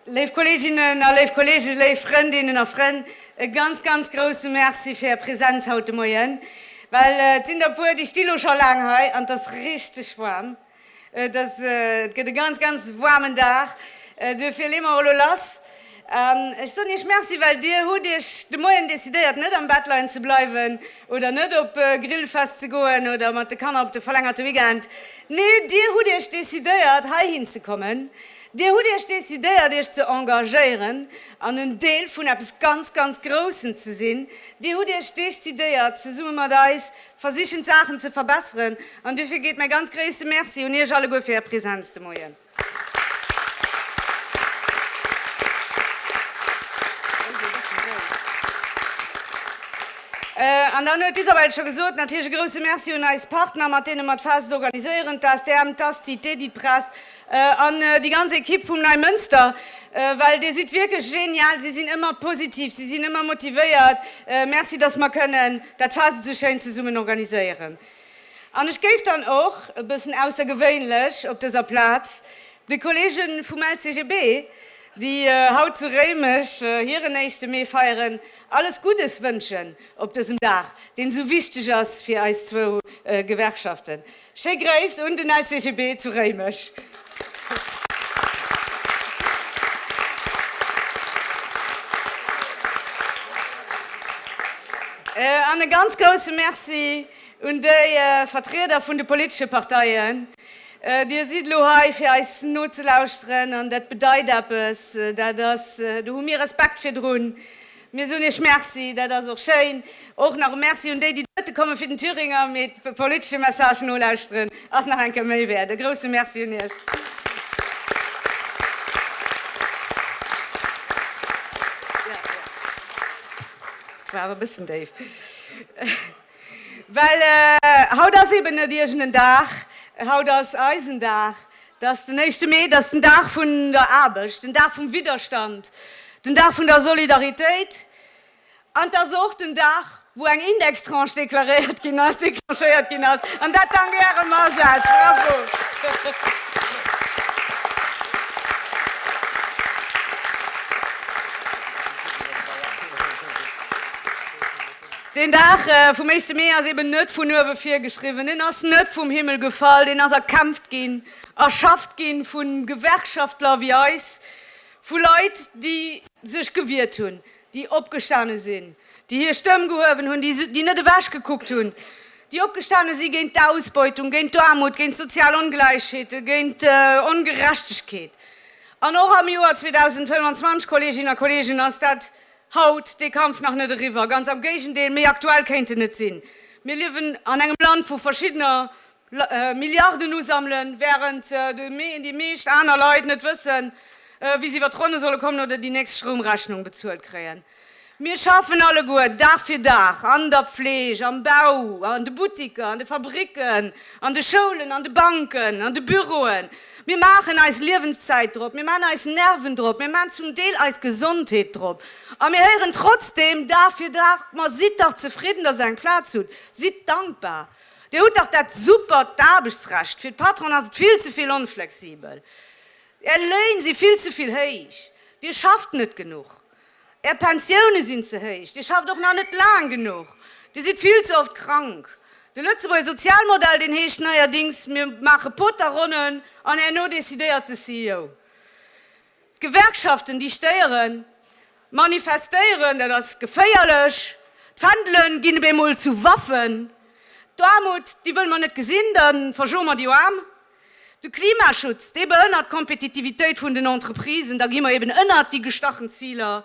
Léif Kolleeginnen a léif Kolleegen, léif Frëndinnen a Frënn, e ganz, ganz grousse Merci fir Är Presenz haut de Moien. Well et sinn der e puer, déi sti lo scho laang hei an et ass richteg waarm. Et ass, et gëtt e ganz, ganz waarmen Dag, duerfir leeë mer elo lass. An ech soen Iech Merci, well Dir hutt Iech de Moien decidéiert, net am Bett leien ze bleiwen oder net op Grillfest ze goen oder mat de Kanner op de verlängerte Weekend. Nee, Dir hutt Iech decidéiert, heihin ze kommen. Dir hutt Iech decidéiert, Iech ze engagéieren an en Deel vun eppes ganz, ganz Groussem ze sinn. Dir hutt Iech decidéiert, zesumme mat eis Versichen d'Saachen ze verbesseren an dofir geet mäi ganz gréisste Merci un Iech alleguer fir Är Präsenz de Moien. An dann huet d'Isabel scho gesot, natierlech e grousse Merci un eis Partner, mat deene mer d'Fest organiséieren, d'ASTM, d'Asti, d'Editpress an déi ganz Ekipp vum Neimënster, well Dir sidd wierklech genial, si sinn ëmmer positiv, si sinn ëmmer motivéiert. Merci, dass mer kënnen. Dat war se sou schéin zesummen organiséieren. An ech géif dann och, e bëssen aussergewéinlech op dëser Plaz, de Kollege vum LCGB, déi haut zu Réimech hiren éischte Mee feieren, alles Guddes wënschen op dësem Dag, deen esou wichteg ass fir eis zwou Gewerkschaften. Schéi Gréiss un den LCGB zu Réimech. An e ganz grousse Merci un déi Vertrieder vun de politesche Parteien. Dir sidd elo hei fir eis nozelauschteren an dat bedeit eppes, dat ass, do hu mir Respekt virdrun. Mir soen Iech Merci, dat ass och schéin. Och nach e Merci un déi, déi dote kommen, fir den Thüringer mee de politesche Message nolauschteren ass nach eng Kéier méi wäert. E grousse Merci un Iech. Well haut ass eben net iergenden Dag, haut ass eisen Dag, et ass den éischte Mee, et ass den Dag vun der Aarbecht, den Dag vum Widderstand, den Dag vun der Solidaritéit an et ass och den Dag, wou eng Indextranche deklaréiert ginn ass, declenchéiert ginn ass, an dat dank Ärem Asaz. Bravo! Deen Dag vum éischte Mee ass eben net vun uewe virgeschriwwen, en ass net vum Himmel gefall, deen ass erkämpft ginn, erschafft ginn vu Gewerkschaftler wéi eis, vu Leit, déi sech gewiert hunn, déi opgestane sinn, déi hir Stëmm gehuewen hunn, déi net ewech gekuckt hunn, déi opgestane si géint d'Ausbeutung, géint d'Aarmut, géint sozial Ongläichheete, géint Ongerechtegkeet. An och am Joer 2025, Kolleeginnen a Kolleegen, ass dat Haut, dee Kampf nach net eriwwer, ganz am Géigendeel, méi aktuell kéint en net sinn. Mir liewen an engem Land wou verschiddener Milliarden usammelen, wärend déi meescht aner Leit net wëssen, wéi se iwwer d'Ronne solle kommen oder déi nächst Stroumrechnung bezuelt kréien. Mir schaffen alleguer Dag fir Dag an der Pfleeg, am Bau, an de Buttiker, an de Fabricken, an de Schoulen, an de Banken, an de Büroen, Mir maachen eis Liewenszäit drop, mir maachen eis Nerven drop, mir maachen zum Deel eis Gesondheet drop. A mir héieren trotzdeem Dag fir Dag, Ma sidd dach zefridden, datt der eng Plaz hutt, sidd dankbar, Dir hutt dach dat supert Aarbechtsrecht, fir d'Patronen ass et vill ze vill onflexibel, Är Léin si vill ze vill héich, Dir schafft net genuch. Är Pensioune sinn ze héich, Dir schafft och nach net laang genuch, Dir sidd vill ze oft krank. De Lëtzebuerger Sozialmodell, deen heescht neierdings, mir maache Poterronnen an herno decidéiert de CEO. D'Gewerkschaften, déi stéieren, manifestéieren, dat ass geféierlech, d'Fändele ginn op eemol zu Waffen. D'Aarmut, déi wëlle mer net gesinn, da verschoe mer déi Aarm. De Klimaschutz, dee behënnert d'Kompetitivitéit vun den Entreprisen, da gi mer eben ënnert déi gestachen Ziler.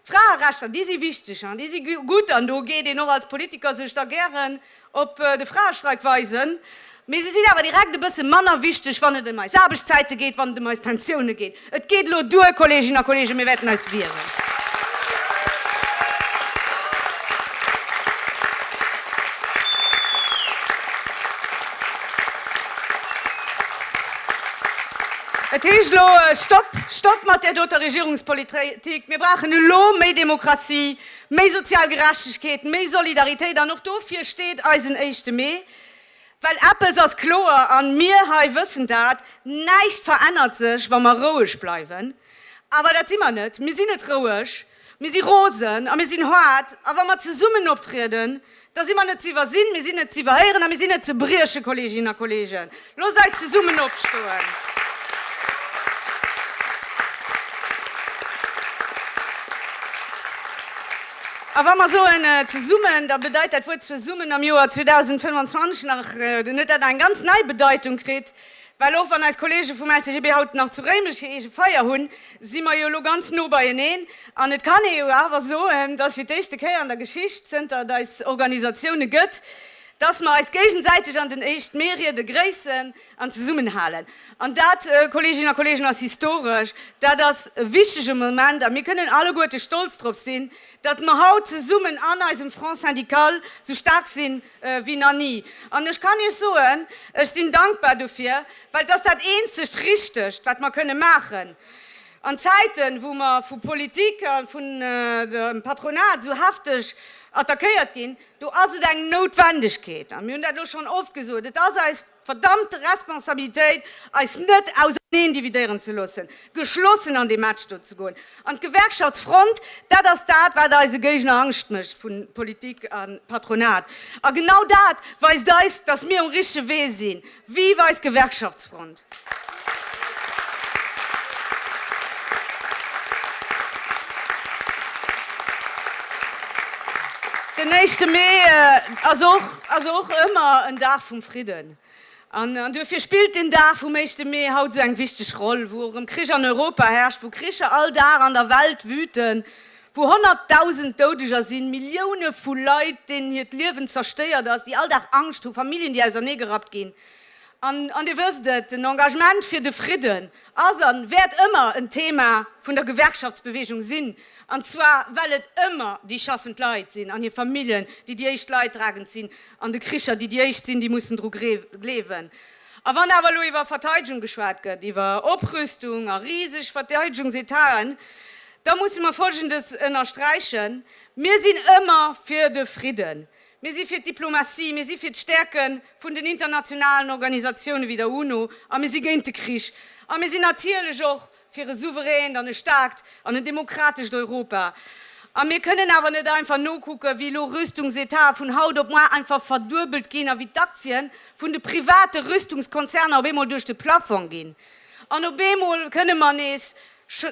D'Fraerechter, déi si wichteg an déi si gutt an do geet een och als Politiker sech da gären op de Fraestreik weisen, mee se sinn awer direkt e bësse manner wichteg, wann et ëm eis Aarbechtszäite geet, wann et ëm eis Pensioune geet. Et geet elo duer, Kolleeginnen a Kolleegen, mir wäerten eis wieren. Et heescht elo, Stopp, Stopp mat där doter Regierungspolitik! Mir brauchen elo méi Demokratie, méi sozial Gerechtegkeet, méi Solidaritéit, an och dofir steet eisen Éischte Mee. Well eppes ass kloer, an mir hei wëssen dat, Näischt verännert sech, wa mer roueg bleiwen. Awer dat si mer net. Mir sinn net roueg. Mir si rosen a mir sinn haart. A wa mer zesummen optrieden, da si mer net ze iwwersinn, mir sinn net ze iwwerhéieren a mir sinn net ze briechen. Kolleeginnen a Kolleegen, loosst eis zesummen opstoen! A wa mer soen zesummen, da bedeit dat Wuert zesummen am Joer 2025 nach net, dat eng ganz nei Bedeitung kritt. Well och wann eis Kollege vum LCGB haut nach zu Réimech hir eege Feier hunn, si mer jo elo ganz no beieneen. An et kann ee jo awer soen, dass fir d'éischte Kéier an der Geschicht, zënter et eis Organisatioune gëtt, dass mer eis géigesäiteg an den 1. Mee riede gréissen. An zesummenhalen. An dat, Kolleeginnen a Kolleegen, ass historesch. Dat ass e wichtige Moment. A mir kënnen alleguerte stolz drop sinn, datt mer haut zesummen an eisem Front syndical esou staark si wéi nach ni. An ech kann Iech soen, ech sinn dankbar dofir, well et ass dat eenzegt Richtegt, wat mer kënne maachen an Zäiten, wou mer vu Politik a vun dem Patronat esou hefteg attackéiert ginn. Do ass et eng Noutwendegkeet. A mir hunn dat elo schonn oft gesot, et ass eis. Verdammte Responsabilitéit, eis net auserneendividéieren ze loossen, geschlossen an dee Match do ze goen. An d'Gewerkschaftsfront, dat ass dat, wat eise Géigner Angscht mécht vu Politik a Patronat. A genau dat weist eis, datt mir um richtege Wee sinn. Vive eis Gewerkschaftsfront! Den éischte Mee ass och. ass och ëmmer en Dag vum Fridden an duerfir spillt den Dag vum éischte Mee haut esou eng wichteg Roll, wou erëm Krich an Europa herrscht, wou Kricher all Dag an der Welt wüten, wou honnertdausend Doudeger sinn, Millioune vu Leit, deenen hiert Liewen zerstéiert ass, déi all Dag Angscht hu, Familljen, déi ausernee gerappt ginn. An Dir wësst et, den Engagement fir de Fridden ass a wäert ëmmer en Thema vun der Gewerkschaftsbewegung sinn, an zwar well et ëmmer déi schaffend Leit sinn an hir Familljen, déi déi éischt Leidtragend sinn an de Kricher, déi déi éischt sinn, déi mussen dru gleewen. A wann awer elo iwwer Verteidegung geschwat gëtt, iwwer Oprüstung a riseg Verteidigungsetagen, da musse mer Folgendes ënnersträichen, Mir sinn ëmmer fir de Fridden. Mir si fir d'Diplomatie, mir si fir d'Stäerke vun den internationalen Organisatioune wéi der UNO a mir si géint de Krich. A mir sinn natierlech och fir e souveränt an e staarkt an en demokratescht Europa. A mir kënnen awer net einfach nokucken, wéi elo Rüstungsetate vun haut op muar einfach verduebelt ginn a wéi d'Aktie vun de private Rüstungskonzerner op eemol duerch de Plafong ginn. An op eemol kënne mer nees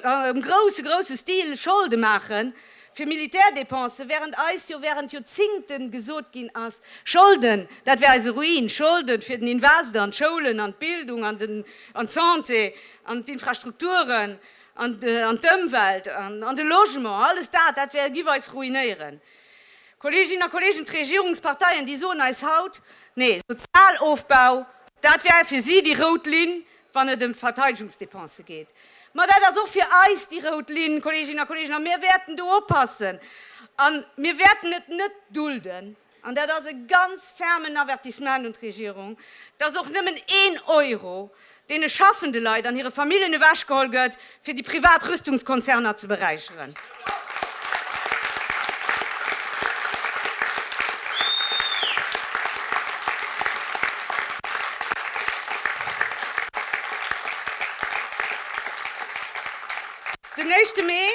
am grousse, grousse Stil Scholde maachen fir Militärdépensen, während eis jo während Joerzingte gesot ginn ass, Scholden, dat wär eise Ruin, Scholde fir den Invest an d'Schoulen, an d'Bildung, an den, an d'Santé, an d'Infrastrukturen, an de, an d'Ëmwelt, an de Logement, alles dat, dat wär, giff eis ruinéieren. Kolleeginnen a Kolleegen, d'Regierungsparteien, déi soen eis haut, Nee, Sozialofbau, dat wär fir si déi rout Linn, wann et ëm d'Verteidegungsdepensë geet. Ma dat ass och fir eis déi rout Linn, Kolleeginnen a Kolleegen, a mir wäerten do oppassen a mir wäerten et net dulden, an dat ass e ganz fermen Avertissement un d'Regierung, dass och nëmmen een Euro deene schaffende Leit an hire Familljen ewechgeholl gëtt, fir déi privat Rüstungskonzerner ze beräicheren. Den éischte Mee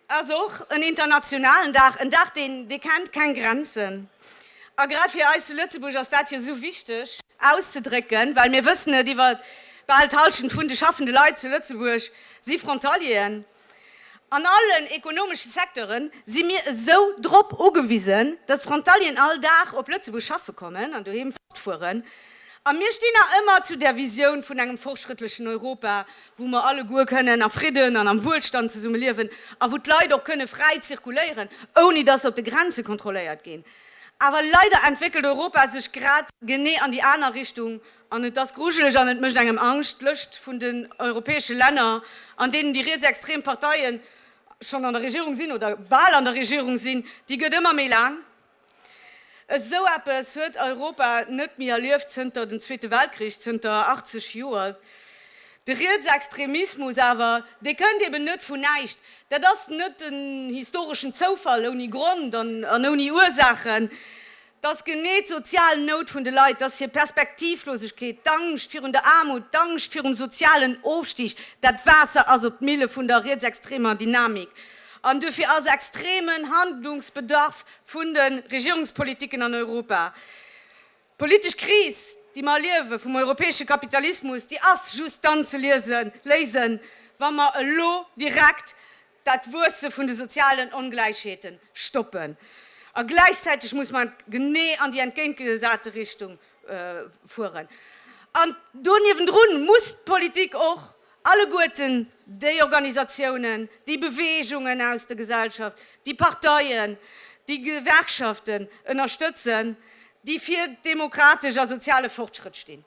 ass och en internationalen Dag, en Dag deen dee kennt keng Grenzen. A grad fir eis zu Lëtzebuerg ass dat jo esou wichteg auszedrécken, well mir wëssen et, iwwer bal d'Halschent vun de schaffende Leit zu Lëtzebuerg si Frontalieren. An allen ekonomesche Secteure si mir esou drop ugewisen, datt d'Frontalieren all Dag op Lëtzebuerg schaffe kommen an doheem fortfueren. A mir stinn nach ëmmer zu der Visioun vun engem fortschrëttlechen Europa, wou mer alleguer kënnen a Fridden an am Wuelstand zesumme liewen a wou d'Leit och kënne fräi zirkuléieren, ouni datt se op de Grenze kontrolléiert ginn. Awer leider entwéckelt Europa sech grad genee an déi aner Richtung an et ass grujeleg an et mécht engem Angscht. D'Lëscht vun den europäesche Länner, an deenen déi rietsextrem Parteien schonn an der Regierung sinn oder bal an der Regierung sinn, déi gëtt ëmmer méi laang. Esou eppes huet Europa net méi erlieft zënter dem Zweete Weltkrich, zënter 80 Joer. De Rietsextremismus awer, dee kënnt eben net vun näischt. Dat ass net en historeschen Zoufall ouni Grond an ouni Ursaachen. Dat ass genee d'sozial Nout vun de Leit, dat ass hir Perspektivlosegkeet, d'Angscht virun der Aarmut, d'Angscht virum sozialen Ofstig. Dat Waasser ass op d'Mille vun der rietsextremer Dynamik An duerfir ass extremen Handlungsbedarf vun de Regierungspolitiken an Europa. D'politesch Kris, déi mer erliewen, vum europäesche Kapitalismus, déi ass just dann ze léisen, wa mer elo direkt dat Wuesse vun de sozialen Ongläichheete stoppen. A gläichzäiteg muss mer genee an déi entgéintgesate Richtung fueren. An do niewendrun muss d'Politik och Alleguerten déi Organisatiounen, déi Beweegungen aus der Gesellschaft, déi Parteien, déi Gewerkschaften ënnerstëtzen, déi fir demokratesch a soziale Fortschrëtt stinn.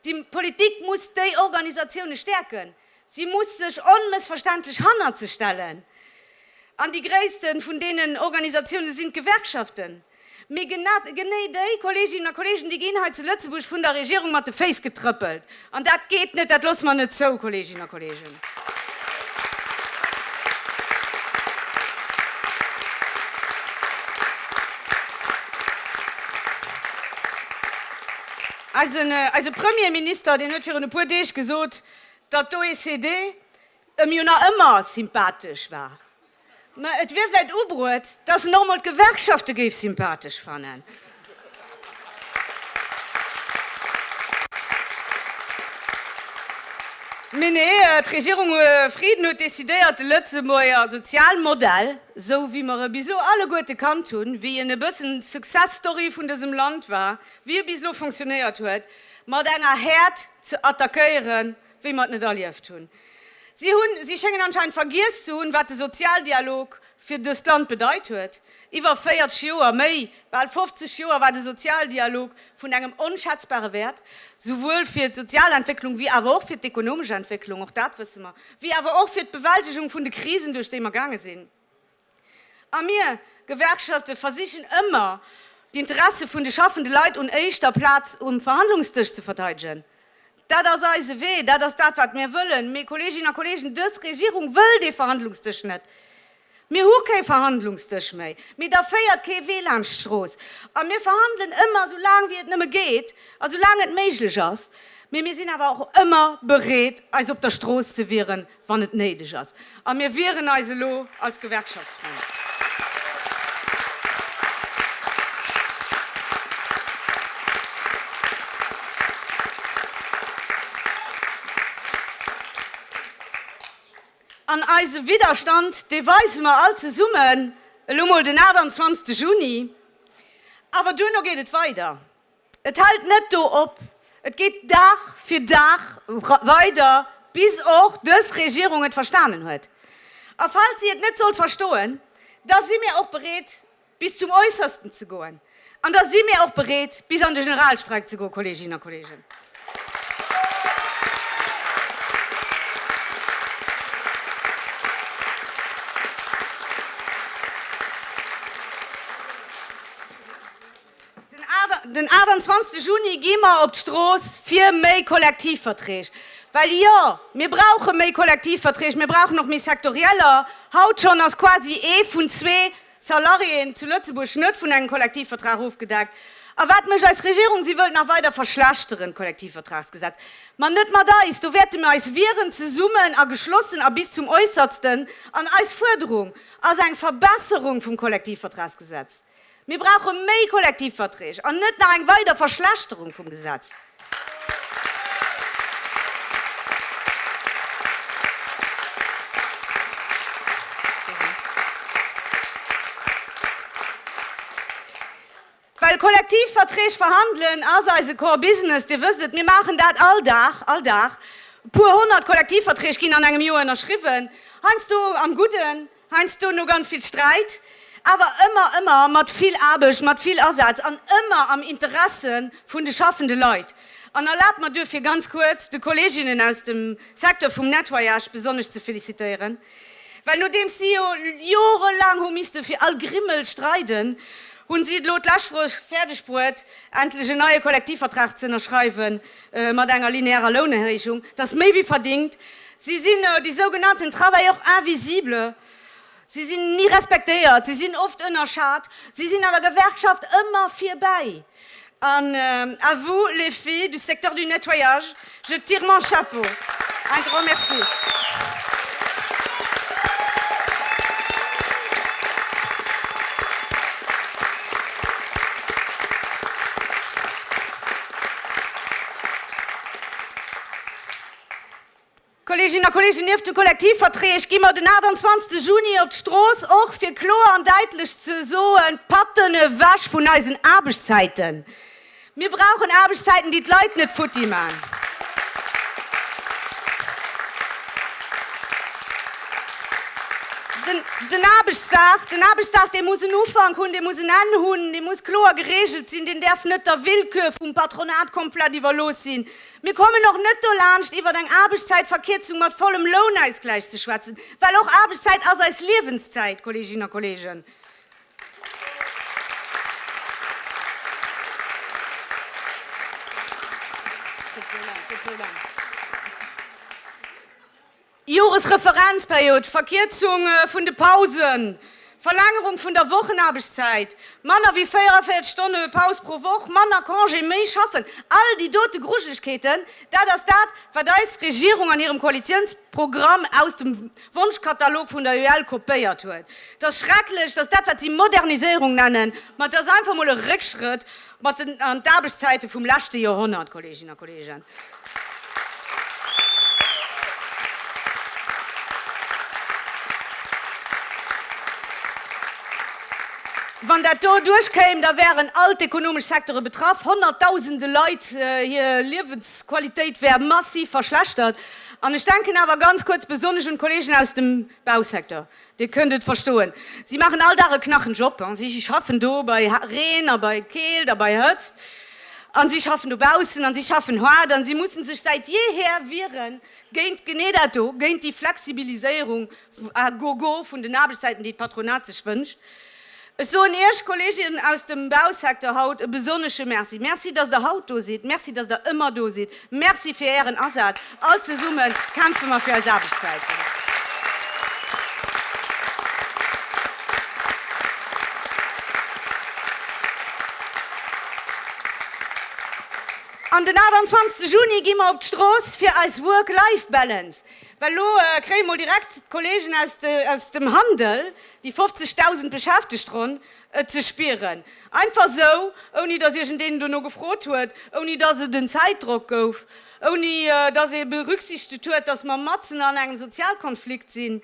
D'Politik muss déi Organisatiounen stäerken. Si muss sech onmëssverständlech hannert se stellen. An déi gréisste vun deenen Organisatiounen sinn d'Gewerkschaften. Mee genee déi Kolleeginnen a Kolleegen, déi ginn hei zu Lëtzebuerg vun der Regierung mat de Féiss getrëppelt. An dat geet net, dat loosse mer net zou, Kolleeginnen a Kolleegen. Eise Premierminister, deen huet virun e puer Deeg gesot, datt d'OECD, e mir nach ëmmer sympathesch war, mä et wier vläicht ubruet, dass en och emol d'Gewerkschafte géif sympathesch fannen. Mee nee, d'Regierung Frieden huet decidéiert, de Lëtzebuerger Sozialmodell, esou wéi mer e bis elo alleguerte kannt hunn, wéi en e bëssen d'Success Story vun dësem Land war, wéi e bis elo funktionéiert huet, mat enger Häert ze attackéieren, wéi mer et net erlieft hunn. Si hunn, si schéngen anscheinend vergiess ze hunn, wat de Sozialdialog fir dëst Land bedeit huet. Iwwer 40 Joer, méi, bal 50 Joer war de Sozialdialog vun engem onschätzbare Wäert, souwuel fir d'Sozialentwécklung wéi awer och fir d'ekonomesch Entwécklung, och dat wësse mer, wéi awer och fir d'Bewältegung vun de Krisen, duerch déi mer gaange sinn. A mir Gewerkschafte versichen ëmmer, d'Interesse vun de schaffende Leit un éischter Plaz um Verhandlungsdësch ze verteidegen. Dat ass eise Wee, dat ass dat, wat mir wëllen. Mee, Kolleeginnen a Kolleegen, dës Regierung wëll dee Verhandlungsdësch net. Mir hu kee Verhandlungsdësch méi, mee da féiert kee Wee laanscht d'Strooss. A mir verhandelen ëmmer esou laang, wéi et nëmme geet a sou laang et méiglech ass. Mee mir sinn awer och ëmmer bereet, eis op der Strooss ze wieren, wann et néideg ass, a mir wieren eis elo als Gewerkschaftsfront. An eise Widderstand, dee weise mer all zesummen elo mol den 28 Juni, awer duerno geet et weider. Et hält net do op, et geet Dag fir Dag weider, bis och dës Regierung et verstanen huet. A falls si et net sollt verstoen, da si mir och bereet, bis zum Äussersten ze goen. An da si mir och bereet, bis an de Generalstreik ze goen, Kolleeginnen a Kolleegen. Den 28 Juni gi mer op d'Strooss fir méi Kollektivverträg. Well jo, mir brauche méi Kollektivverträg, mir brauchen och méi sektorieller. Haut schonn ass quasi ee vun zwee Salariéen zu Lëtzebuerg net vun engem Kollektivvertrag ofgedeckt. A wat mécht eis Regierung? Si wëllt nach weider verschlechteren, d'Kollektivvertragsgesetz. Ma net mat eis, do wäerte mir eis wieren, zesummen a geschlossen a bis zum Äussertsten. An eis Fuerderung ass eng Verbesserung vum Kollektivvertragsgesetz. Mir brauche méi Kollektivverträg an net nach eng weider Verschlechterung vum Gesetz. Well Kollektivverträg verhandelen ass eise Core Business, Dir wësst et, mir maachen dat all Dag, all Dag. E puer honnert Kollektivverträg ginn an engem Joer ënnerschriwwen, heiansdo am Gudden, Heiansdo no ganz vill Sträit, awer ëmmer, ëmmer mat vill Aarbecht, mat vill Asaz an ëmmer am Interesse vun de schaffende Leit. An erlaabt mer duerfir ganz kuerz, de Kolleginnen aus dem Secteur vum Nettoyage besonnesch ze felicitéieren, well nodeems si jo jorelaang hu misste fir all Grimmel streiden, hu si et elo d'lescht Woch fäerdeg bruet, endlech en neie Kollektivvertrag ze ënnerschreiwe mat enger linearer Lounerhéijung, dass méi wéi verdingt Si sinn déi sougenannten travailleurs invisibles. Si sinn ni respektéiert, si sinn oft ënnerschat, si sinn an der Gewerkschaft ëmmer virbäi. An à vous les filles du secteur du nettoyage, je tire mon chapeau. Un grand merci. Kolleeginnen a Kolleegen, nieft de Kollektivverträg gi mer den 28 Juni op d'Strooss, och fir kloer an däitlech ze soen, Patten ewech vun eisen Aarbechtszäiten! Mir brauchen Aarbechtszäiten, déi d'Leit net futti maachen. Den Aarbechtsdag, den Aarbechtsdag, dee muss en Ufank hunn, dee muss en Enn hunn, dee muss kloer geregelt sinn, deen däerf net der Willkür vum Patronat komplett iwwerlooss sinn. Mir kommen och net dolaanscht, iwwer eng Aarbechtszäitverkierzung mat vollem Lounausgläich ze schwätzen, well och Aarbechtszäit ass eis Liewenszäit, Kolleeginnen a Kolleegen. Joresreferenzperiod, Verkierzung vun de Pausen, Verlängerung vun der Wochenaarbechtszäit, manner wéi 44 Stonne Paus pro Woch, manner Congé, méi schaffen, all déi dote Grujelechkeeten, dat ass dat, wat eis Regierung an hirem Koalitionsprogramm aus dem Wonschkatalog vun der UEL kopéiert huet. Et ass schrecklech, dass dat, wat si Moderniséierung nennen, ma et ass einfach emol e Réckschrëtt. Mat den an d'Aarbechtszäite vum leschte Joerhonnert, Kolleeginnen a Kolleegen. Wann dat do duerchkéim, da wären all d'ekonomesch Secteure betraff, honnertdausende Leit hir Liewensqualitéit wär massiv verschlechtert. An ech denken awer ganz kuerz besonnesch un d'Kolleegen aus dem Bausecteur. Dir kënnt et verstoen, si maachen all Dag e knachen Job. Si schaffen do bei Reen a bei Keelt a bei Hëtzt a si schaffen dobaussen a si schaffen haart a si musse sech säit jeeher wiere géint genee dat do, géint déi Flexibiliséierung à gogo vun den Aarbechtszäiten, déi d'Patronat sech wënscht. Ech soen Iech, Kolleegen aus dem Bausecteur, haut e besonnesche Merci. Merci, dass Der haut do sidd. Merci, dass Der ëmmer do sidd. Merci fir Ären Asaz. All zesumme kämpfe mer fir eis Aarbechtszäiten. An den 28 Juni gi mer op d'Strooss fir eis Work-Life-Balance. Well elo kréie mol direkt d'Kolleegen aus dem Handel Déi 50.000 beschäftegt ronn et ze spieren. Einfach esou, ouni datt iergendeen dono gefrot huet, ouni datt et en Zäitdrock gouf, ouni datt ee berücksichtegt huet, datt mer matzen an engem Sozialkonflikt sinn,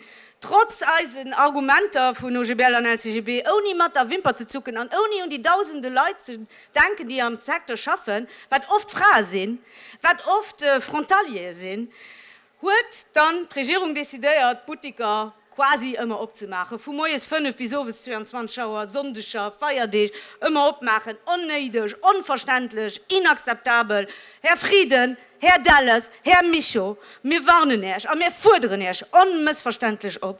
trotz eisen Argumenter vun OGBL an LCGB, ouni mat der Wimper ze zucken an ouni un déi dausende Leit ze denken, déi am Secteur schaffen, wat oft Frae sinn, wat oft Frontaliere sinn. Huet dann d'Regierung decidéiert, d'Buttiker quasi ëmmer opzemaachen, vu moies 5 bis owes 22 Auer, Sonndeger, Feierdeeg, ëmmer opmaachen? Onnéideg, onverständlech, inakzeptabel! Här Frieden, Här Delles, Här Mischo, mir warnen Äerch a mir fuerderen Äerch onmëssverständlech op,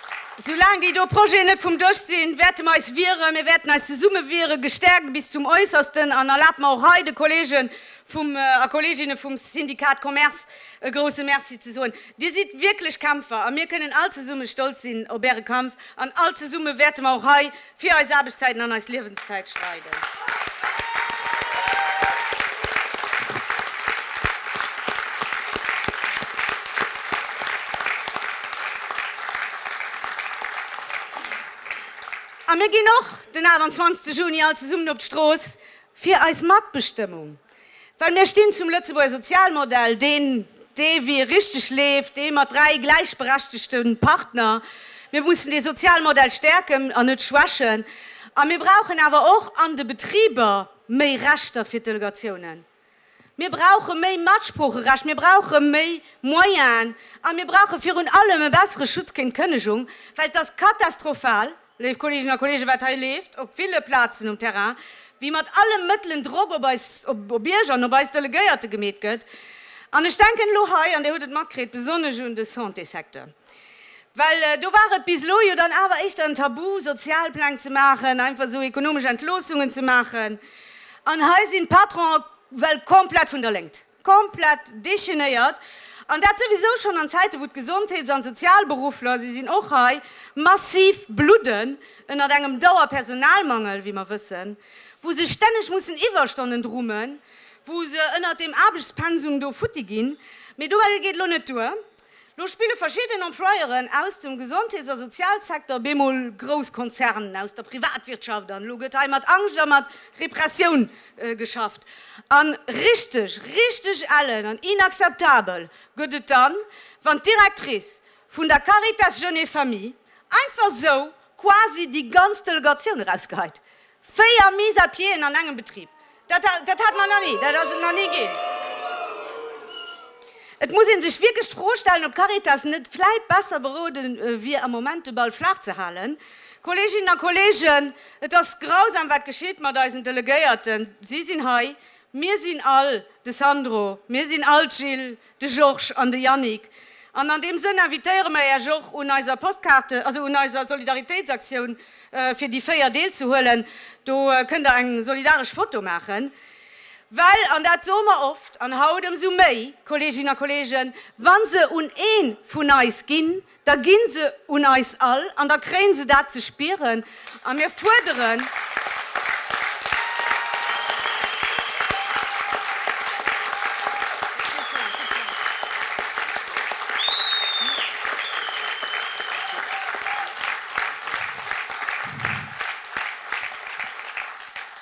Soulaang déi do Projeten net vum Dësch sinn, wäerte mer eis wieren. Mir wäerten eis zesumme wieren, gestärkt bis zum Äussersten. An erlaabt mer och hei de Kollege a Kolleeginne vum Syndicat Commerce e grouse Merci ze soen. Dir sidd wierklech Kämpfer a mir kënnen all zesumme stolz sinn op Äre Kampf. An all zesumme wäerte mer och hei, Fir eis Aarbechtszäiten an eis Liewenszäit streiden. A mir ginn och den 28 Juni all zesummen op d'Strooss fir eis Matbestëmmung Well mir stinn zum Lëtzebuerger Sozialmodell, deen, dee wéi e richteg leeft, dee mat dräi gläichberechtegte Partner. Mir mussen dee Sozialmodell stäerken an net schwächen. A mir brauchen awer och an de Betriber méi Rechter fir d'Delegatiounen. Mir brauche méi Matsproocherecht, mir brauche méi Moyenen a mir brauche virun allem e bessere Schutz géint d'Kënnegung, well et ass katastrofal, Léif Kolleeginnen a Kolleegen, wat hei leeft op ville Plazen um Terrain, wéi mat alle Mëttelen Drock op eis, op Iech an op eis Delegéierte gemeet gëtt, an ech denken elo hei, an Dir hutt et matkritt, besonnesch un de Santésecteur, well do war et bis elo jo dann awer éischter en Tabu, Sozialpläng ze maachen, einfach esou ekonomesch Entloossungen ze maachen, an hei sinn d'Patronen well komplett vun der Léngt. komplett dechaînéiert, an dat souwisou schonn an Zäite wou d'Gesondheets an Sozialberuffler, si sinn och hei, massiv bludden ënnert engem Dauerpersonalmangel, wéi mer wëssen, wou se stänneg mussen Iwwerstonnen drummen, wou se ënnert deem Aarbechtspensum do futti ginn. Mee dobäi geet elo net duer. Lo spille verschidden Employeuren aus dem Gesondheets a Sozialsecteur op eemol grouss Konzernen aus der Privatwirtschaft an elo gëtt hei mat Angscht a mat Repressioun geschafft. A richteg, richteg ellen an inakzeptabel gëtt et dann, wann d'Directrice vun der Caritas Jeunes et Familles einfach esou quasi déi ganz Delegatioun erausgeheit. Véier Mise à pieden an engem Betrib, dat hat mer nach ni, dat ass et nach ni ginn. Et muss ee sech wierklech d'Fro stellen, ob d'Caritas net vläit besser berode wier, am Moment de Ball flaach ze halen. Kolleeginnen a Kolleegen, et ass grausam, wat geschitt mat eisen Delegéierten. Si sinn hei, mir sinn all de Sandro, mir sinn all d'Jil, de Georges an de Yannick. An an deem Sënn invitéiere mer Iech och un eiser Postkaarte, also un eiser Solidaritéitsaktioun, fir déi 4 deelzehuelen. Do kënnt Der eng solidaresch Foto maachen. Well, an dat soe mer oft, an haut ëmsou méi, Kolleeginnen a Kolleegen, wa se un ee vun eis ginn, da gi se un eis all an da kréie se dat ze spieren a mir fuerderen,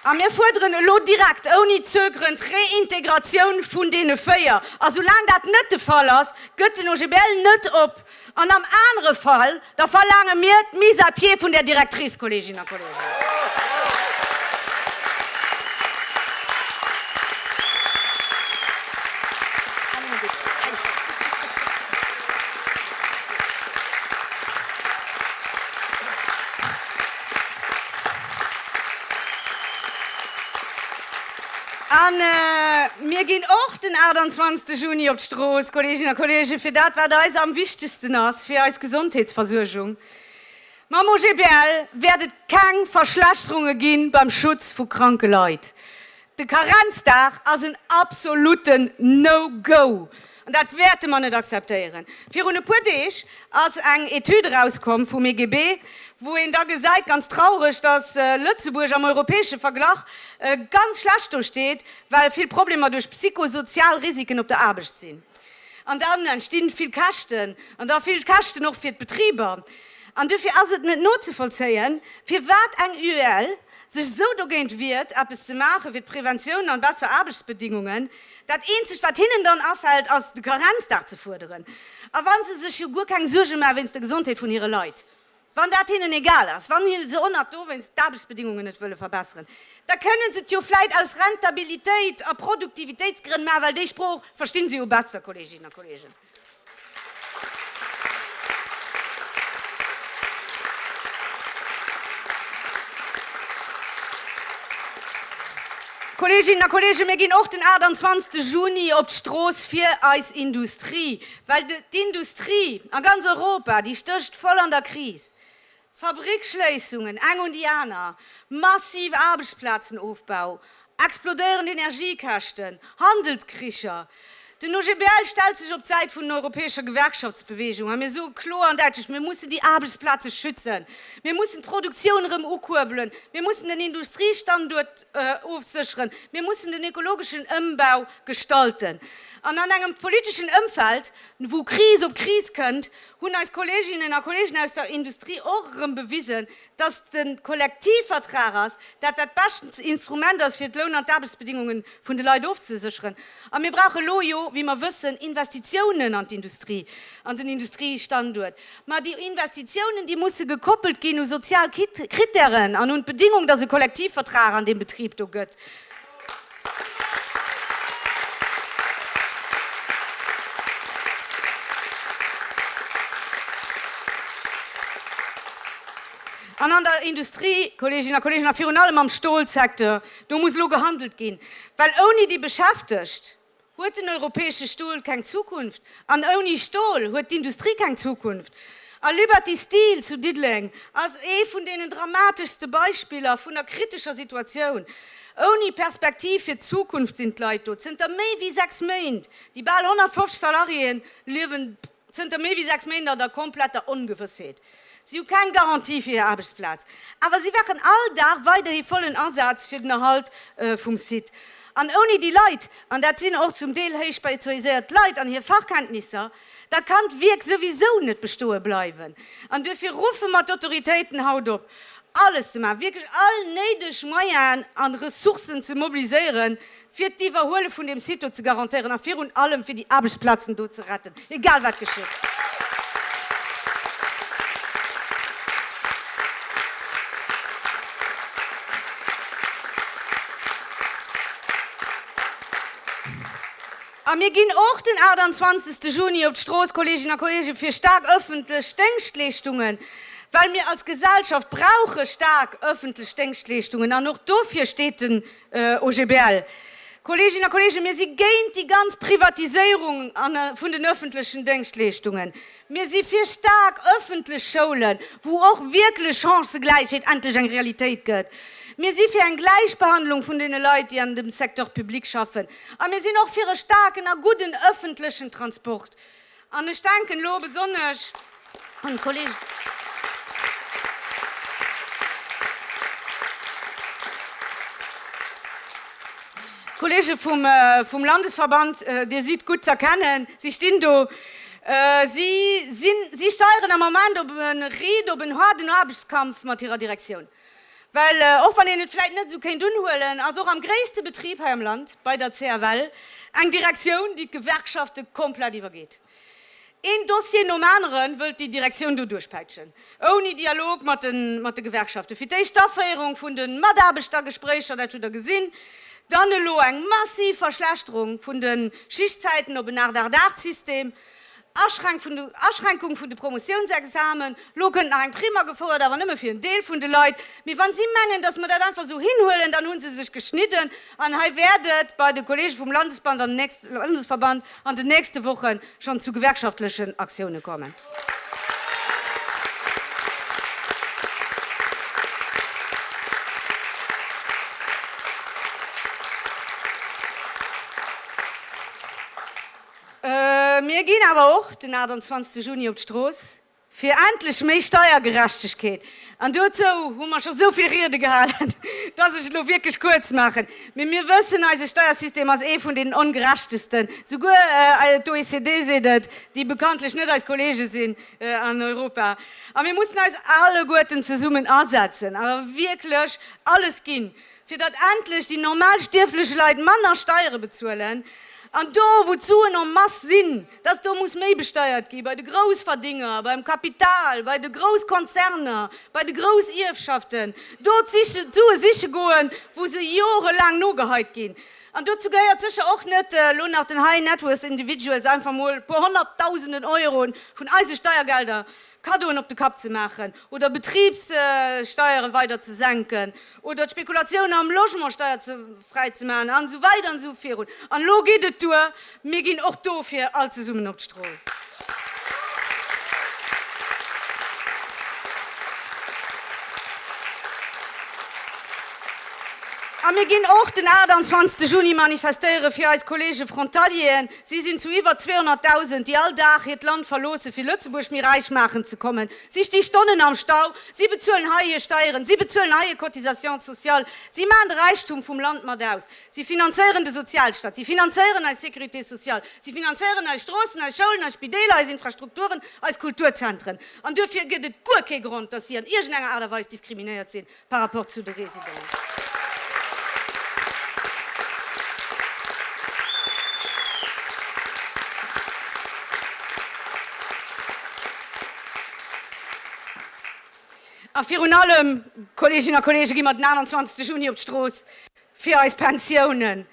a mir fuerderen elo direkt, ouni zögeren, d'Reintegratioun vun deene véier a soulaang dat net de Fall ass, Gëtt den OGBL net op an am anere Fall, da verlaange mir d'Mise à pied vun där Directrice, Kolleeginnen a Kollegen. A mir ginn och den 28 Juni op d'Strooss, Kolleeginnen a Kolleegen, fir dat, wat eis am wichtegsten ass, fir eis Gesondheetsversuergung. Mam OGBL wäert et keng Verschlechterunge gi beim Schutz vu kranke Leit. De Karenzdag ass en absolutten No-Go. An dat wäerte mer net akzeptéieren. Virun e puer Deeg ass eng Etüd erauskomm vum EGB, wou een da gesäit, ganz traureg, datt Lëtzebuerg am europäesche Verglach ganz schlecht do steet, well vill Problemer duerch psychosozial Risiken op der Aarbecht sinn. An dann entsti vill Käschten, an da vill Käschten och fir d'Betriber. An dofir ass et net nozevollzéien, firwat eng UEL sech esou dogéint wiert, eppes ze maache fir d'Preventioun an besser Aarbechtsbedingungen. Dat eenzegt wat hinnen dann afält ass de Karenzdag ze fuerderen. A wann se sech jo guer keng Suerge maachen wéinst der Gesondheet vun hire Leit, wann dat hinnen egal ass, wann se onnert dowéinst d'Aarbechtsbedingungen net wëlle verbesseren, da kënnen se et jo vläit aus Rentabilitéit a Produktivitéitsgrënn maachen, well déi Sprooch verstinn se jo besser, Kolleeginnen a Kolleegen. Kolleeginnen a Kolleegen, mir ginn och den 28 Juni op d'Strooss fir eis Industrie, well d'Industrie a ganz Europa, déi stécht voll an der Kris. Fabriksschléissungen, eng un déi aner, massiv Aarbechtsplazenofbau, explodéierend Energiekäschten, Handelskricher. Den OGBL stellt sech op d'Säit vun den europäescher Gewerkschaftsbeweegung a mir soe kloer an däitlech, Mir mussen déi Aarbechtsplaze schützen, mir mussen d'Produktioun erëm ukuerbelen, mir mussen den Industriestanduert ofsécheren, mir mussen den ökologeschen Ëmbau gestalten. An an engem politeschen Ëmfeld, wou Kris op Kris kënnt, hunn eis Kolleeginnen a Kolleegen aus der Industrie och erëm bewisen, dass de Kollektivvertrag ass, dat dat beschtens Instrument ass, fir d'Loun an d'Aarbechtsbedingunge vun de Leit ofzesécheren. A mir brauche elo jo, wéi mer wëssen, Investitiounen an d'Industrie, an den Industriestanduert. Mä déi Investitiounen, déi musse gekoppelt ginn u sozial Krittären an un d'Bedingung, dass e Kollektivvertrag an deem Betrib do gëtt. An an der Industrie, Kolleeginnen a Kolleegen, a virun allem am Stolsecteur, do muss elo gehandelt ginn, well ouni déi Beschäftegt, huet den europäesche Stol keng Zukunft an ouni Stol huet d'Industrie keng Zukunft. A Liberty Steel zu Diddeleng ass ee vun deenen dramateschste Beispiller vun der kritescher Situatioun. Ouni Perspektiv fir d'Zukunft sinn d'Leit do. Zënter méi wéi sechs Méint, déi bal 150 Salariéen, liewen. zënter méi wéi sechs Méint an der kompletter Ongewëssheet. Si hu keng Garantie fir hir Aarbechtsplaz, awer si wachen all Dag weiderhi vollen Asaz fir den Erhalt vum Site. An ouni déi Leit, an dat sinn och zum Deel héich spezialiséiert Leit an hir Fachkenntnisser, da kann d'Wierk souwisou net bestoe bleiwen. An duerfir ruffe mer d'Autoritéiten haut op, alles ze maachen, wierklech all néideg Moyenen a Ressourcen ze mobiliséieren, fir d'Iwwerhuele vun deem Site do ze garantéieren a virun allem fir déi Aarbechtsplazen do ze retten, egal wat geschitt. A mir ginn och den 28 Juni op d'Strooss, Kolleeginnen a Kolleegen, fir staark öffentlech Déngschtleeschtungen, well mir als Gesellschaft brauche staark öffentlech Déngschtleeschtungen an och dofir steet den OGBL, Kolleeginnen a Kolleegen, mir si géint déi ganz Privatiséierung vun den öffentlechen Déngschtleeschtungen. Mir si fir staark öffentlech Schoulen, wou och wierklech Chancëgläichheet endlech eng Realitéit gëtt. Mir si fir eng Gläichbehandlung vun deene Leit, déi an dem Secteur public schaffen. A mir sinn och fir e staarken a gudden öffentlechen Transport. An ech denken elo besonnesch un d'Kolleg. Kollege vum Landesverband, Dir sidd gutt z'erkennen, si stinn do. Si steieren am Ament op e riidopenhaarden Aarbechtskampf mat hirer Direktioun. Well och wann een et vläit net esou kéint unhuelen, ass och am gréisste Betrib hei am Land, bei der CFL, eng Direktioun, déi d'Gewerkschafte komplett iwwergeet. Een Dossier nom anere wëllt déi Direktioun do duerchpäitschen, ouni Dialog mat de Gewerkschaften. Fir d'éischt d'Aféierung vun de Mataarbechtergespréicher, dat hutt Der gesinn. Dann elo eng massiv Verschlechterung vun de Schichtzäiten op en Acht-Acht-Acht-System. Aschränkung vun de Promotiounsexamen, Elo kënnt nach eng Prime agefouert, awer nëmme fir en Deel vun de Leit. Mee wann si mengen, datt mer dat einfach esou hinhuelen, dann hu se sech geschnidden. An hei wäert et bei de Kolleege vum Landesverband an den nächste Woche schonn zu gewerkschaftlechen Aktioune kommen. Mir ginn awer och den 28 Juni op d'Strooss fir endlech méi Steiergerechtegkeet. An dozou hu mer scho souvill Riede gehalen, dass ech et elo wierklech kuerz maachen. Mee mir wëssen, eise Steiersystem ass ee vun deenen ongerechtesten. Souguer d'OECD seet et, déi bekanntlech net eis Kollege sinn an Europa. A mir mussen eis alleguerten zesummen asetzen a wierklech alles ginn, fir datt endlech déi normal stierflech Leit manner Steiere bezuelen an do wou d'Suen en masse sinn, datt do muss méi besteiert gi bei de Groussverdinger, beim Kapital, bei de Grousskonzerner, bei de Groussierfschaften, do d'Sue siche goen, wou se jorelaang nogeheit ginn. An dozou gehéiert sécher och net elo nach den High Net Worth Individuals einfach mol e puer Honnertdausenden Euro vun eise Steiergelder Kaddoen op de Kapp ze maachen oder Betribssteiere weider ze senken oder d'Spekulatioun am Logement steierfräi ze maachen an esou weider an esou virun. An elo geet et duer, mir ginn och dofir all zesummen op d'Strooss. A mir ginn och den 28 Juni manifestéiere fir eis Kollege Frontalieren, Si sinn zu iwwer 200.000, déi all Dag hiert Land verloossen, fir Lëtzebuerg méi räich maachen ze kommen. Si sti Stonnen am Stau. Si bezuelen hei hir Steieren. Si bezuelen hei hir Cotisations sociales. Si maachen de Räichtum vum Land mat aus. Si finanzéieren de Sozialstaat. Si finanzéieren eis Sécurité sociale. Si finanzéieren eis Stroossen, eis Schoulen, eis Spideeler, eis Infrastrukturen, eis Kulturzentren. An duerfir gëtt et guer kee Grond, dass si an iergendenger Aart a Weis diskriminéiert sinn. par rapport zu de Résidents. A virun allem, Kolleeginnen a Kolleegen, gi mer den 21 Juni op d'Strooss, Fir eis Pensiounen.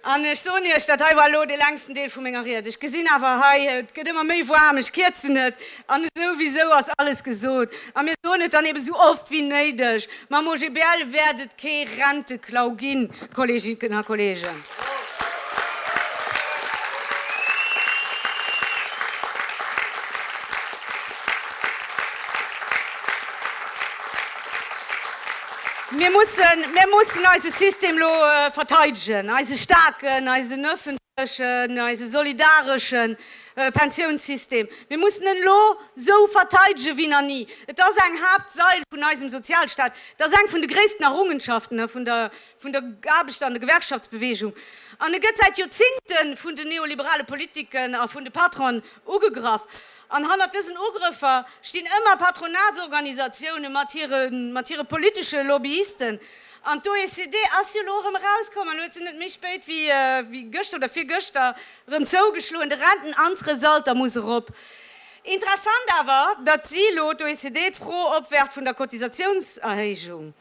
An ech soen Iech, dat hei war elo dee längsten Deel vu menger Ried. Ech gesinn awer hei, et gëtt ëmmer méi waarm, ech kierzen et. An esouwisou ass alles gesot. A mir soen et dann eebe esou oft wéi néideg, Mam OGBL wäert et kee Renteklau ginn, Kolleginnen a Kollegen. Mir mussen, mir mussen eise System elo verteidegen, eise staarken, eisen öffentlechen, eise solidareschen Pensiounssystem. Mir mussen en elo esou verteidegen, wéi nach ni. Et ass eng Haaptsail vun eisem Sozialstaat. Et ass eng vun de gréissten Errungenschaften vun der, vun der Aarbechter an der Gewerkschaftsbewegung. An e gëtt säit Joerzingte vun den neoliberale Politiken a vun de Patronen ugegraff. An hannert dësen Ugrëffer stinn ëmmer Patronatsorganisatioune mat hire mat hire politesche Lobbyisten. An d'OECD ass jo elo erëm erauskom an huet se net méi spéit wéi wéi gëschter oder virgëschter erëm zougeschloen, de Rentenanzresalter muss erop. Interessant awer, datt si elo, d'OECD, d'Fro opwerft vun der Cotisatiounserhéijung.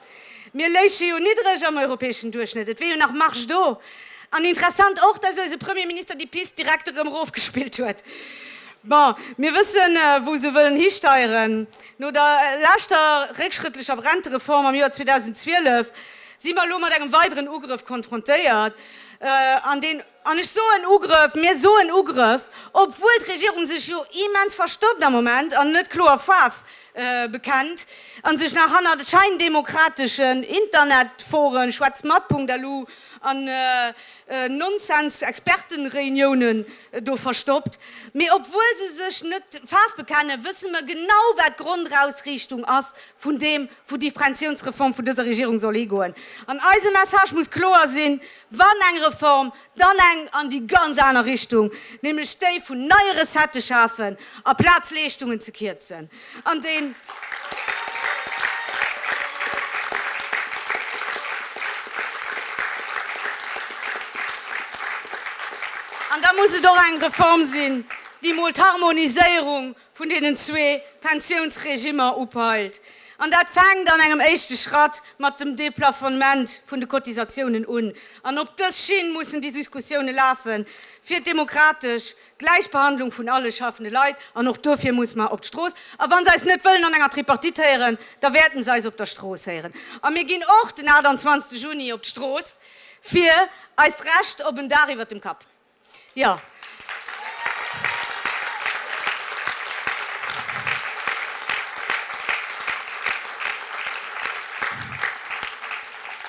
Mir léiche jo niddreg am europäeschen Duerchschnëtt, et wier jo nach Marge do. An interessant och, dass eise Premier Minister déi Pist direkt erëm erofgespillt huet. Bon, mir wëssen, wou se wëllen histeieren. No der leschter réckschrëttlecher Rentereform am Joer 2012 si mer elo mat engem weideren Ugrëff konfrontéiert, an deen, An ech soen Ugrëff, mir soen Ugrëff, obwuel d'Regierung sech jo immens verstoppt am Moment an net kloer Faarf bekennt a sech nach hanner de scheindemokrateschen Internetforen, Schwätzmat-punkt-lu an Nonsens-Expertenreuniounen do verstoppt. Mee obwuel se sech net Faarf bekennen, wësse mer genau, wat d'Grondausriichtung ass vun deem, wou déi Pensiounsreform vun dëser Regierung soll higoen. An eise Message muss kloer sinn, Wann eng Reform, dann eng an déi ganz aner Richtung, nämlech déi vun neie Recettë schafen, aplaz Leeschtungen ze kierzen. An déi An da muss et och eng Reform sinn, déi mol d'Harmoniséierung vun deenen zwee Pensiounsregimer upeilt, an dat fänkt an engem éischte Schratt mat dem Deplafonnement vun de Cotisatiounen un. An op dës Schinn mussen déi Suskussiounen lafen, fir d'demokratesch Gläichbehandlung vun alle schaffende Leit, an och dofir muss mer op d'Strooss. A wa se eis net wëllen an enger Tripartite héieren, da wäerten se eis op der Strooss héieren. A mir ginn och den 28 Juni op d'Strooss fir eist Recht op en Daach iwwert dem Kapp. Jo.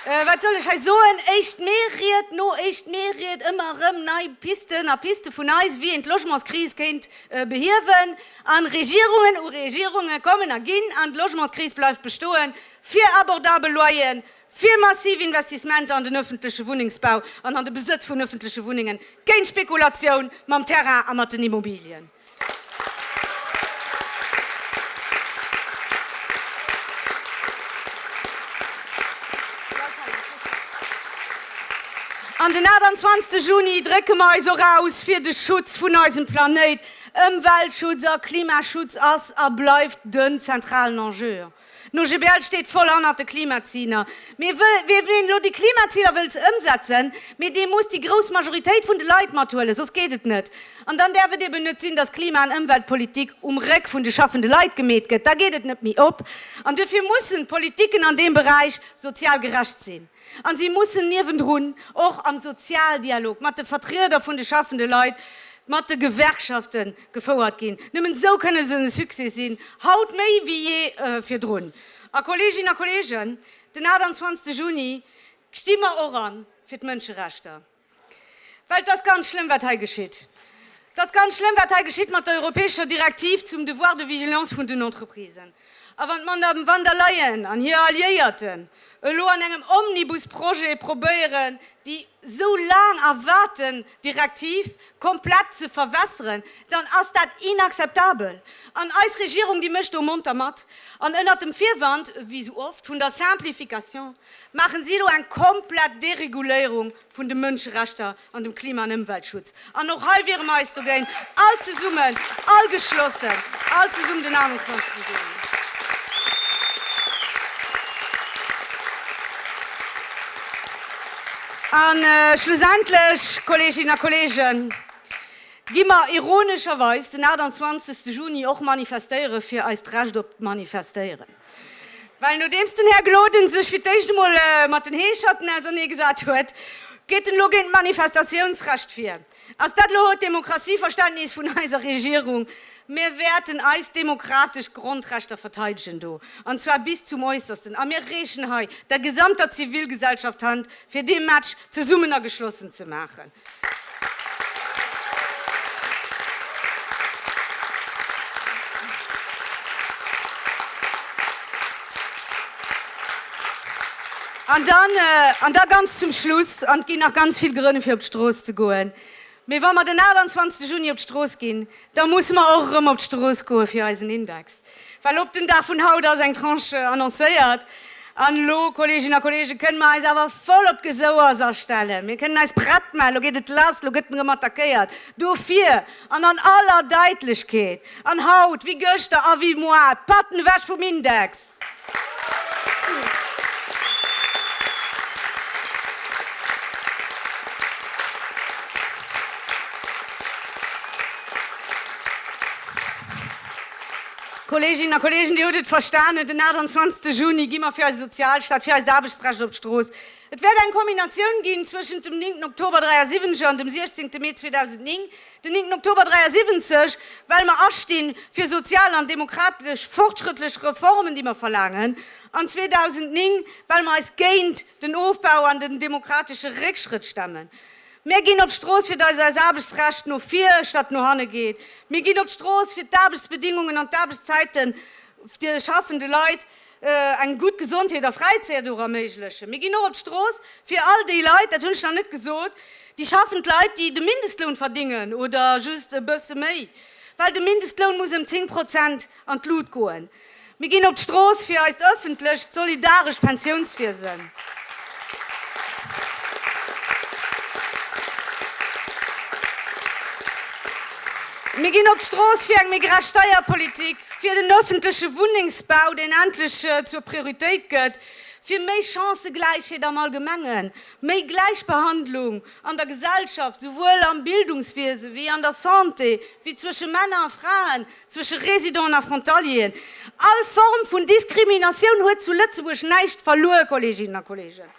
Äh, wat soll ech hei soen? Éischt Mee-Ried no éischt Mee-Ried, ëmmer erëm nei Pisten a Piste vun eis, wéi een d'Logementskris kéint behiewen. An Regierungen u Regierunge kommen a ginn, an d'Logementskris bleift bestoen, fir abordabel Loyeren fir massiv Investissementer an den ëffentleche Wunnengsbau an an de Besëtz vun ëffentleche Wunnengen, géint Spekulatioun mam Terrain a mat den Immobilien. An den 28 Juni drécke mer eis och aus fir de Schutz vun eisem Planéit. Ëmweltschutz a Klimaschutz ass a bleift den zentralen Enjeu. No GBL steet voll hannert de Klimaziler. Mee wee ween elo déi Klimaziler wëllt ëmsetzen, mee dee muss déi grouss Majoritéit vun de Leit mathuelen, soss geet et net. An dann däerf et eben net sinn, datt Klima an Ëmweltpolitik um Réck vun de schaffende Leit gemeet gëtt. Da geet et net méi op. An duerfir mussen d'Politiken an deem Beräich sozial gerecht sinn. An si mussen niewendrun och am Sozialdialog mat de Vertrieder vun de schaffende Leit, mat de Gewerkschaften gefouert ginn. Nëmmen esou kënne se e Succès sinn, haut méi wéi jee virdrun. A Kolleeginnen a Kolleegen, den 28 Juni sti mer och an fir d'Mënscherechter. Well et ass ganz schlëmm, wat hei geschitt. Et ass ganz schlëmm, wat hei geschitt mat der europäescher Direktiv zum Devoir de vigilance vun den Entreprisen. A wann d'Madame van der Leyen an hir Alliéierten elo an engem Omnibusprojet probéieren, déi esou laang erwaarten Direktiv komplett ze verwässeren, dann ass dat inakzeptabel. An eis Regierung, déi mécht do monter mat, an ënnert dem Virwand, wéi esou oft, vun der Simplification. maachen si elo eng komplett Dereguléierung vun de Mënscherechter an dem Klima an Ëmweltschutz. An och hei wiere mer eis dogéint, all zesummen, all geschlossen, all zesummen den 28 ze soen. A schlussendlech, Kolleeginnen a Kolleegen, gi mer ironescherweis den 28 Juni och manifestéiere fir eist Recht op d'Manifestéieren. Well nodeems den Här Gloden sech fir d'éischt emol mat den Heescherten ausernee gesat huet, geet en elo géint d'Manifestatiounsrecht vir. Ass dat elo haut d'Demokratie-Verständnis vun eiser Regierung? Mir wäerten eis demokratesch Grondrechter verteidegen do, an zwar bis zum Äussersten, a mir reechen hei der gesamter Zivilgesellschaft d'Hand, fir dee Match zesummen a geschlossen ze maachen. An dann, an da ganz zum Schluss, an et ginn nach ganz vill Grënn, fir op d'Strooss ze goen, mee wa mer den 28 Juni op d'Strooss ginn, da musse mer och erëm op d'Strooss goe fir eisen Index. Well op den Dag vun haut ass eng Tranche annoncéiert. An elo, Kolleeginnen a Kolleegen, kënnen mer eis awer voll op d'Gesouers astellen. Mir kënnen eis prett man. Elo geet et lass. Elo gëtt en erëm attackéiert. Dofir, an an aller Daitlechkeet, an haut wéi gëschter a wéi moar, d'Patten ewech vum Index! Kolleeginnen a Kolleegen, Dir hutt et verstanen, den 28 Juni gi mer fir eise Sozialstaat, fir eist Aarbechtsrecht op d'Strooss. Et wäert eng Kombinatioun ginn zwëschent dem 9 Oktober 73 an dem 16 Mee 2009. Den 9 Oktober 73, well mer astinn fir sozial an demokratesch fortschrëttlech Reformen, déi mer verlaangen, an 2009, well mer eis géint den Ofbau an den demokratesche Réckschrëtt stemmen. Mir ginn op d'Strooss fir dass eis Aarbechtsrecht no vir statt no hanne geet. Mir ginn op d'Strooss fir d'Aarbechtsbedingungen an d'Aarbechtszeite vun de schaffende Leit, eng gutt Gesondheet a Fräizäit och erméiglechen. Mir ginn och op d'Strooss fir all déi Leit, dat hunn ech nach net gesot, déi schaffend Leit, déi de Mindestloun verdingen oder just e bësse méi, well de Mindestloun muss ëm 10 Prozent an d'Lut goen. Mir ginn op d'Strooss fir eist ëffentlecht, solidarescht Pensiounswiesen. Mir ginn op d'Strooss fir eng méi gerecht Steierpolitik, fir den ëffentleche Wunnengsbau, deen endlech zur Prioritéit gëtt, fir méi Chancëgläichheet am Allgemengen, méi Gläichbehandlung an der Gesellschaft, souwuel am Bildungswiese wéi an der Santé, wéi zwësche Männer a Fraen, zwësche Résidenten a Frontalieren, all Form vun Diskriminatioun huet zu Lëtzebuerg näischt verluer, Kolleeginnen a Kolleegen.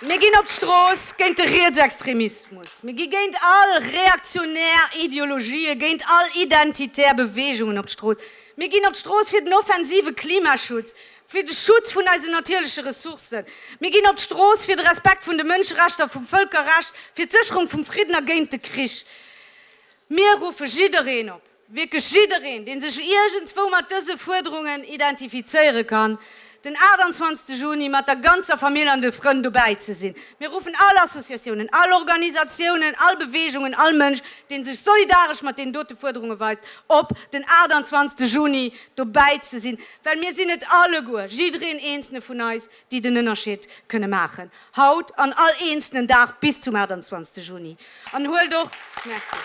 Mir ginn op d'Strooss géint de Rietsextremismus, mir gi géint all reaktionär Ideologien, géint all identitär Beweegungen op d'Strooss, mir ginn op d'Strooss fir den offensive Klimaschutz, fir de Schutz vun eisen natierleche Ressourcen, mir ginn op d'Strooss fir de Respekt vun de Mënscherechter, vum Vëlkerrecht, fir d'Sécherung vum Fridden a géint de Krich. Mir ruffe jiddereen op, wierklech jiddereen, dee sech iergendswou mat dëse Fuerderungen identifizéiere kann, den 28 Juni mat der ganzer Famill an de Frënn dobäi ze sinn. Mir ruffen all Associatiounen, all Organisatiounen, all Beweegungen, all Mënsch, dee sech solidaresch mat deenen dote Fuerderunge weist, op, den 28 Juni dobäi ze sinn. Well mir sinn et alleguer, jiddereen eenzelne vun eis, déi den Ënnerscheed kënne maachen, haut an all eenzelnen Dag bis zum 28 Juni. An huelt och, Merci.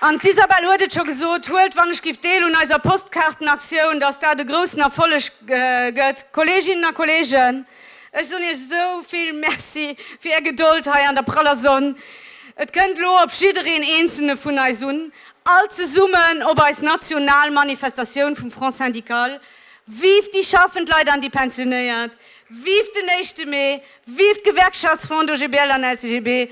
An d'Isabelle huet et scho gesot, huelt wann ech giff deel un eiser Postkaartenaktioun, dass dat e groussen Erfolleg gëtt. Kolleeginnen a Kolleegen, Ech soen iech esou vill Merci fir är Gedold hei an der praller Sonn. Et kënnt elo op jiddereen eenzelne vun eis un, all zesummen op eis national Manifestatioun vum Front syndical. Vive déi schaffend Leit an déi Pensionéiert! Vive den éischte Mee! Vive d'Gewerkschaftsfront OGBL an LCGB!